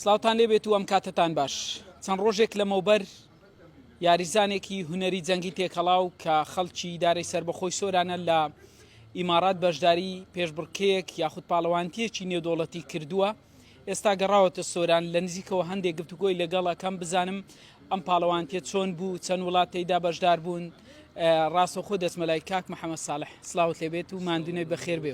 سڵاوتان لێ بێت و ئەم کاتەتان باش چەند ڕۆژێک لەمەوبەر یاریزانێکی هونەری جەنگی تێکەڵاو کە خەڵکی دارەی سربەخۆی سۆرانە لە ئیمارات بەشداری پێشبڕکەیەک یاخود پاڵەوانتیەکی نێودۆڵەتی کردووە ئێستا گەڕاوەتە سۆران لە نزیکەوە هەندێک گفتوگۆی لەگەڵەکەم بزانم ئەم پاڵەوانتیە چۆن بوو چەند وڵات تێدا بەشدار بوون ڕاستەخۆ دەچمەلای کاک محەممەد ساڵح سلااوت لێبێت و مادونەی بەخێر بێ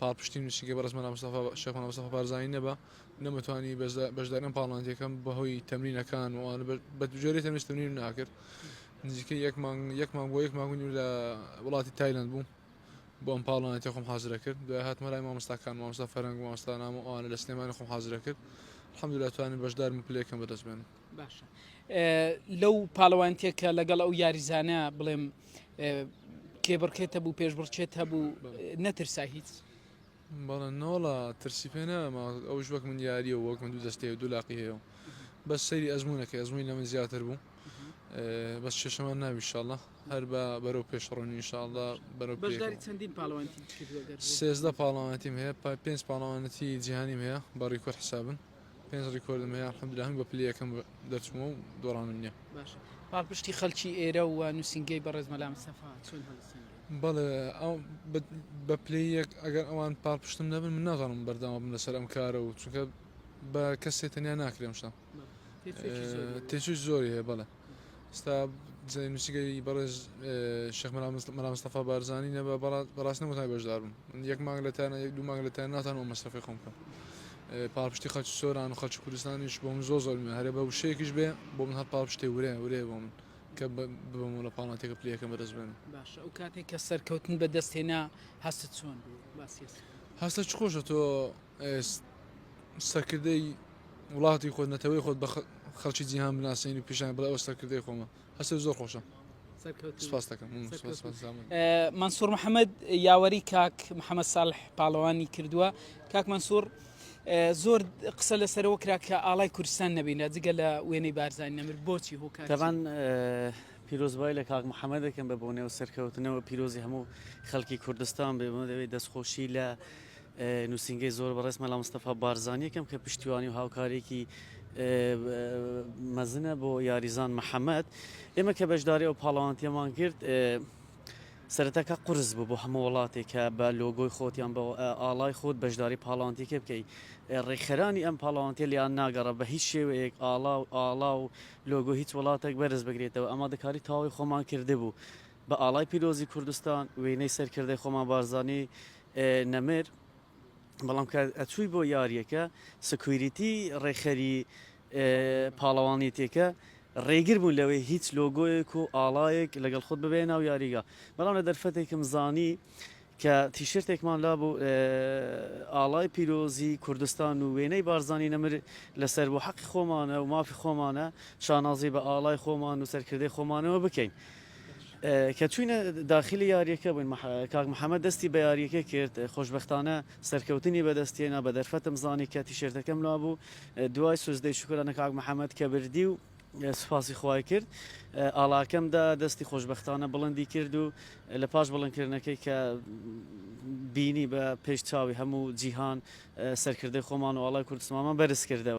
پاڵپشتیم لە چنگی بەڕێز مەلا مستەفا شێخ مەلا مستەفا بارزانی نەبا نەمتوانی بەشداری ئەم پاڵنانتیەکەم بەهۆی تەمرینەکان و ئەوانە بە جۆرێ تەنیش تەمرینم ناکرد نزیکە یەک مانگ یەک مانگ بۆ یەک مانگ و نیو لە وڵاتی تایلند بووم بۆ ئەم پاڵنانتیە خۆم حازرە کرد دوای هاتمە لای مامۆستاکان مامۆستا فەرەنگ و مامۆستانام و ئەوانە لە سلێمانی خۆم حازرە کرد الحمدللە توانیم بەشدارم و پلەیەکەم بەدەست بێنم باشە لەو پاڵەوانتێک کە لەگەڵ ئەو یاریزانە بڵێم کێبڕکێتە بوو پێشبڕچێت هەبوو نەترسا هیچ بەڵە نۆڵە ترسی پێ نامە ئەو وەک من یاریە وەک من دوو دەستەیە دوو لاقی هەیە بە سەری ئەزمونونەکە ئەزمووی لە من زیاتر بوو بە شێشەمان ناوی شاڵە هەر بە بەرەو پێشڕۆنی شاڵدا بەرە چەندین پاڵەوانتی سێزدە پاڵەوانتیم هەیە پێنج پاڵەوانەتی جیهانیم هەیە بەڕی کورد حسابن پێنج ڕیکۆردم هەیە الحمدللە هەمووی بە پلەی یەکەم دەرچوومە و دۆڕانم نییە. باشە پاڵپشتی خەڵکی ئێرە و نووسینگەی بەڕێز مەلا مستەفا چۆن هەڵدەسەنگێت؟ بەڵێ ئەو بە پلەی یەک ئەگەر ئەوان پاڵپشتم نەبن من ناتوانم بەردەوام بم لەسەر ئەم کارە و چونکە بە کەسێ تەنیا ناکرێ ئەم شتە. باشە تێچووی زۆری هەیە. تێچووی زۆری هەیە بەڵێ. ئێستا جێ نووسیگەی بەڕێز شێخ مەلا مست- مەلا مستەفا بارزانی نەبا بەڕا- بەڕاست نەمتان بەشدار بم من یەک مانگ لە تانە یەک دوو مانگ لە تانە ناتانم ئەو مەسرەفەی خۆم بکەم اه، پاڵپشتی خەڵکی سۆران و خەڵکی کوردستانیش بۆ من زۆر زۆر مهمە هەرێ بە وشەیەکیش بێ بۆ من هەر پاڵپشتێ ورێ ورێ بۆ من کە بە- ببم و لە پاڵناتێکە پلەیەکەم بەدەست بێنم باشە ئەو کاتێک کە سەرکەوتن بەدەست هێنا هەستت چۆن بوو باسی هەستەکە هەستە چ خۆشە تۆ سەرکردەی وڵاتی خۆت نەتەوەی خۆت بە خەڵکی جیهان بناسین و پیشان بڵێ ئەو سەرکردەی خۆمە هەست زۆر خۆشە منسوور محەممەد یاوەری کاک محەممەد ساڵح پاڵەوانی کردووە کاک منسوور زۆر قسە لەسەرەوە کرا کە ئاڵای کوردستان نەبینە جگە لە وێنەی بارزانانی نەمر بۆچی هۆکارتەبان پیرۆزبای لە کاک محەممە دەکەم بە بۆنێ و سەرکەوتنەوە پیرۆزی هەموو خەڵکی کوردستان بێ دەستخۆشی لە نوسینگەی زۆر بەڕێز مەلا مستەفا بارزانی یەکەم کە پشتیوانی و هاوکارێکی مەزنە بۆ یاریزان محەممەد ئێمە کە بەشداری ئەو پاڵەوانتیەمان کرد سەرەتاکە قرس بوو بۆ هەموو وڵاتێکە بە لۆگۆی خۆتیان بە ئاڵای خۆت بەشداری پاڵانتیکە بکەیت ڕێکخەرانی ئەم پاڵانتە لیان ناگەڕە بە هیچ شێوەیەک ئاڵا و ئاڵا و لۆگۆ هیچ وڵاتێک بەرز بگرێتەوە ئەمە دەکاری تاوی خۆمان کرده بوو بە ئاڵای پیرۆزی کوردستان وێنەی سەرکردەی خۆمان بارزانی نەمر بەڵام کە ئەچووی بۆ یاریەکە سکویریتی ڕێکخەری پاڵەوانیتێکە ڕێگر بوون لەوەی هیچ لۆگۆیەک و ئاڵایەک لەگەڵ خۆت ببێ ناو یاریگا بەڵام لە دەرفەتێکم زانی کە تیشرتێکمان لابوو ئاڵای پیرۆزی کوردستان و وێنەی بارزانی نەمر لەسەر بوو، حەقی خۆمانە و مافی خۆمانە شانازی بە ئاڵای خۆمان و سەرکردەی خۆمانەوە بکەین. کە چووینە داخیلی یارییەکە بووین، کاک محەمەد دەستی بە یارییەکە کرد، خۆشبەختانە سەرکەوتنی بەدەستهێنا، بە دەرفەتم زانی کە تیشێرتەکەم لابوو، دوای سوجدەی شوکرانە کاک محەمەد کە بردی و، سوپاسی خوای کرد ئاڵاکەم دا دەستی خۆشبەختانە بڵندی کرد و لە پاش بڵندکردنەکەی کە بینی بە پێش چاوی هەموو جیهان سەرکردەی خۆمان و ئاڵای کوردستمانمان بەرز کردەوە.